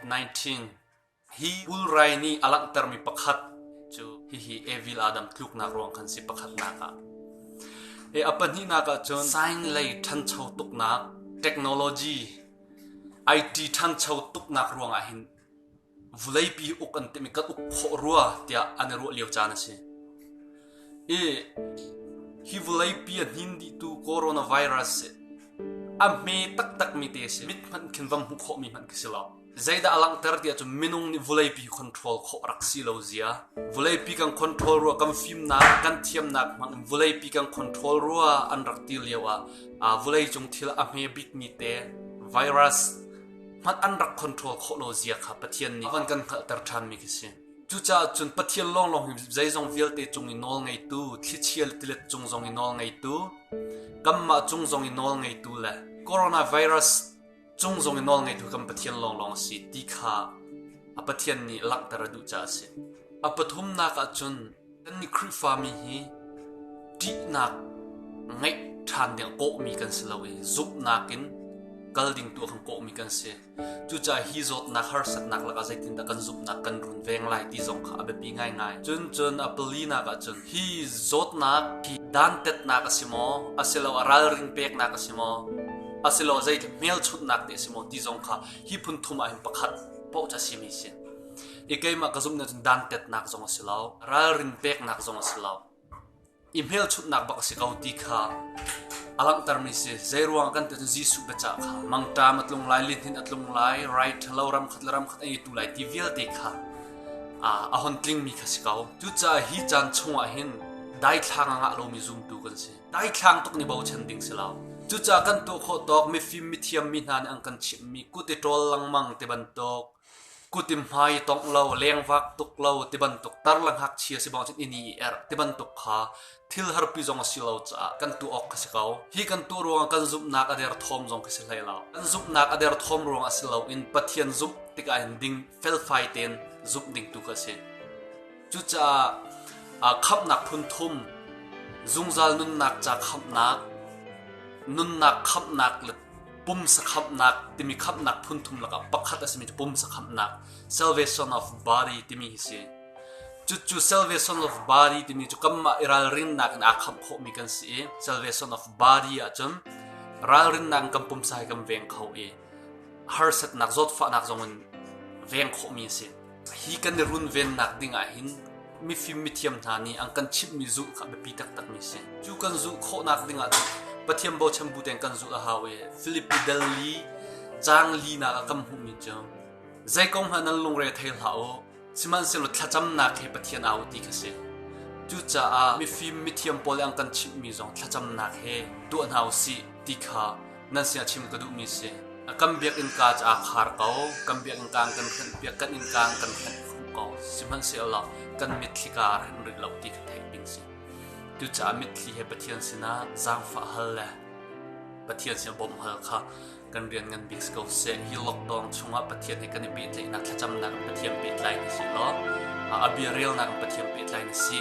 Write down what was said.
COVID-19 hi ulrai nih a langhtermi pakhat cu hihi Evil Adam tluknak ruang khan si pakhatnak ah e a pahnihnak ah cun sign lei ṭhancho tuknak technology IT ṭhancho tuknak ruangah hin vuleipi uk an timi kan uk khawh rua tiah an i ruah lio caan a si. I hi vuleipi a hnin dihtu coronavirus si a hme taktakmi te si mit hmanh khin vam hmuh khawhmi hmanh khi si lo. Zeidah a langhter tiah cu minung nih vuleipi control khawh rak si lo zia. Vuleipi kan control rua kan fimnak kan thiamnak hmang vuleipi kan control rua an rak ti lio ah uh, vulei cung thil a hme bikmi te virus hngalh an rak control khawh lo zia kha Pathian nih an kan hngalhter ṭhanmi khi si. Cucaah cun Pathian lawnglawng hi zeizong vialte cung i nawl ngeitu, thlichia le tilet cung zong i nawl ngeitu, kanmah cung zong i nawl ngeitu le coronavirus cung zong i nawl ngeitu kan Pathian lawnglawng a si ti kha a Pathian nih langhter a duh caah a si. A pathumnak ah cun Kan nih Khrihfami hi ṭihnak ngeih ṭhan ding kawhmi kan si lo i zumhnak in kal ding tu kan kawhmi kan si. Cucaah hi zawtnak harsatnak lakah zeitindah kan zumhnak kan runveng lai ti zong kha a biapi ngaingai. Cun cun a palinak ah cun hi zawtnak hi dantatnak a si maw, a si lo a ralring peknak a si maw, a si lo zei hmelchunhnak te a si maw ti zong kha hi phun thum ah hin pakhat pauh cu a simi a si. I keimah ka zumh nih cun dantatnak zong a si lo, ralrin peknak zong a si lo, i hmelchunhnak bak a si ko ti kha a langhtermi si. Zeiruang kan tiin Jesuh biacah kha mangṭam a tlung lai, lihnin a tlung lai, rai ṭhalo ramkhat le ramkhat an itu lai ti vialte kha uh, a hon tlingmi kha si ko. Cucaah hi caan chungah hin daithlang angah lomi zumtu kan si. Daithlang tuk ni bochan ding si lo. Cucaah kan tuah khawh tawk mifim mithiam mi hna nih an kan chimhmi kut i ṭol lengmang te bantuk Kut in hmai i tongh lo, lengvak tuk lo ti bantuk tar le ngakchia si bang cun ini i erh ti bantuk kha thil harpi zong a si lo caah kan tuah awk ka si ko. Hi kan tuah ruangah kan zumhnak a der thawm zong ka si hlei lo. Kan zumhnak a der thawm ruangah si loin Pathian zumh tik ahhin ding felfai tein zumh ding tu ka si. Cucaah aa khamhnak phun thum, zungzal nunnak ca khamhnak, nunnak khamhnak le pumsa khamhnak timi khamhnak phun thum lakah pakhat a simi cu pumsa khamhnak salvation of body timi hi si. Cucu salvation of body timi cu kanmah i ralrinnak in aa khamh khawhmi kan si i salvation of body ahcun ralrinnak in kan pumsa hi kan veng kho i harsatnak zawtfahnak zongin veng khawhmi a si. Hi kan i runvennak ding ahhin mifim mithiam hna nih an kan chimhmi zulh kha a biapi taktakmi a si. Cu kan zulh khawhnak ding ahcun Pathian bochan bu tein kan zulh a hau i Filipi delli caang linak ah kan hmuhmi cu zei kong hmanh nan lungre thei hlah u sihmanhsehlaw thlacamnak hi Pathian au ti kha si. Cucaah mifim mithiam pawl nih an kan chimhmi zong thlacamnak he tuah hna u sih ti kha nan sia chim ka duhmi si kan biakinn ka ca khar ko kan biakinn ka kan hranh piak kan inn ka kan hranh ko sihmanhsehlaw kan mitthli ka hren rik lo ti ka theih bing si cucaah mitthli he pathian sinah zaangfah hal le pathian sinah bawmh hal kha kan rian ngan bik ko se hi lockdown chungah pathian he kan i pehtlaihnak thlacamnak pathian pehtlai na si lo a bia relnak pathian pehtlai na si